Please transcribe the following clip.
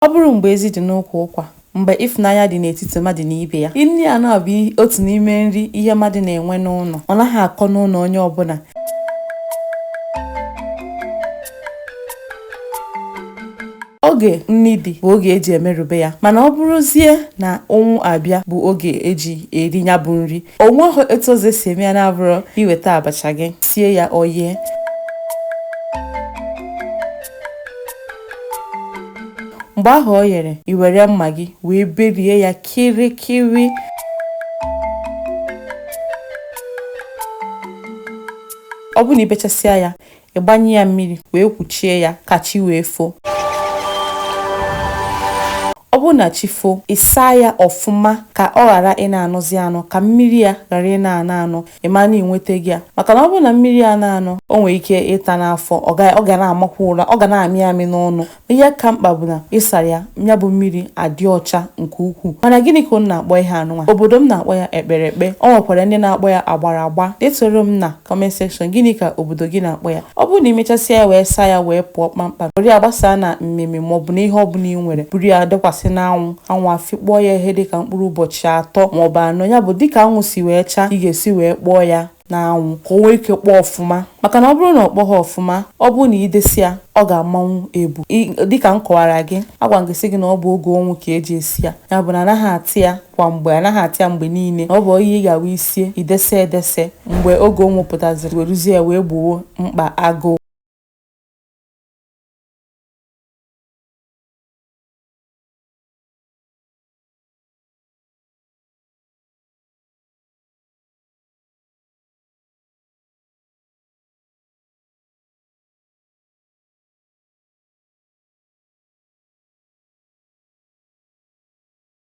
Ọ bụrụ mgbe ezi dị n'ụkwụ ụkwa, mgbe ịfụnanya dị n'etiti mmadụ na ibe ya. Nri anụ a bụ otu n'ime nri ihe mmadụ na-enwe n'ụlọ. Ọ naghị akọ n'ụlọ onye ọbụla. Oge nri dị bụ oge eji emerube ya mana ọ bụrụzie na ụnwụ abịa bụ oge eji eri ya bụ nri. O nweghị etu ọzọ esi eme ya na-abụrụ iweta abacha gị, sie ya o yee. mgbe ahụ o yere i were mma gị wee berie ya kirikiri ọ bụrụ na ibechasịa ya ịgbanye ya mmiri wee kwuchie ya ka chi wee foo ọ bụrụ na chi foo ịsaa ya ọfụma ka ọ ghara ị na-anọzi anọ ka mmiri ya ghara ị na-anọ anọ ị maa na i nwetago ya maka na ọ bụrụ na mmiri a na-anọ o nwere ike ịta n'afọ ọ ga- ọ ga na-amakwa ụra ọ ga na-amị amị n'ọnụ ihe ka mkpa bụ na ịsara ya ya bụ mmiri adị ọcha nke ukwuu mana gịnị ka unu na-akpọ ihe anụnwa obodo m na-akpọ ya ekpere ekpe o nwekwara ndị na-akpọ ya agbara agba detoro m na comment section gịnị ka obodo gị na-akpọ ya ọ bụrụ na i mechasịa ya wee saa ya wee pụọ kpamkpam were ya gbasaa na mmimi maọbụ na ihe ọbụla i nwere buru ya dekwasị n'anwụ anwụ afịkpọọ ya ihe dịka mkpụrụ ụbọchị atọ maọbụ anọ ya bụ dịka anwụ si wee chaa ị ga-esi wee kpọọ ya n'anwụ ka o nwee ike kpọọ ọfụma maka na ọ bụrụ na ọ kpọghị ọfụma ọ bụrụ na idese ya ọ ga-amanwụ ebu dịka m kọwara gị agwa m gị sị gị na ọ bụ oge ụnwụ ka eji esi ya ya bụ na anaghị ata ya kwa mgbe anaghị ata ya mgbe niile na ọ bụ ihe ị ga-awụ isie idese edese mgbe oge ụnwụ pụtaziri weruzie ya wee gboo mkpa agụụ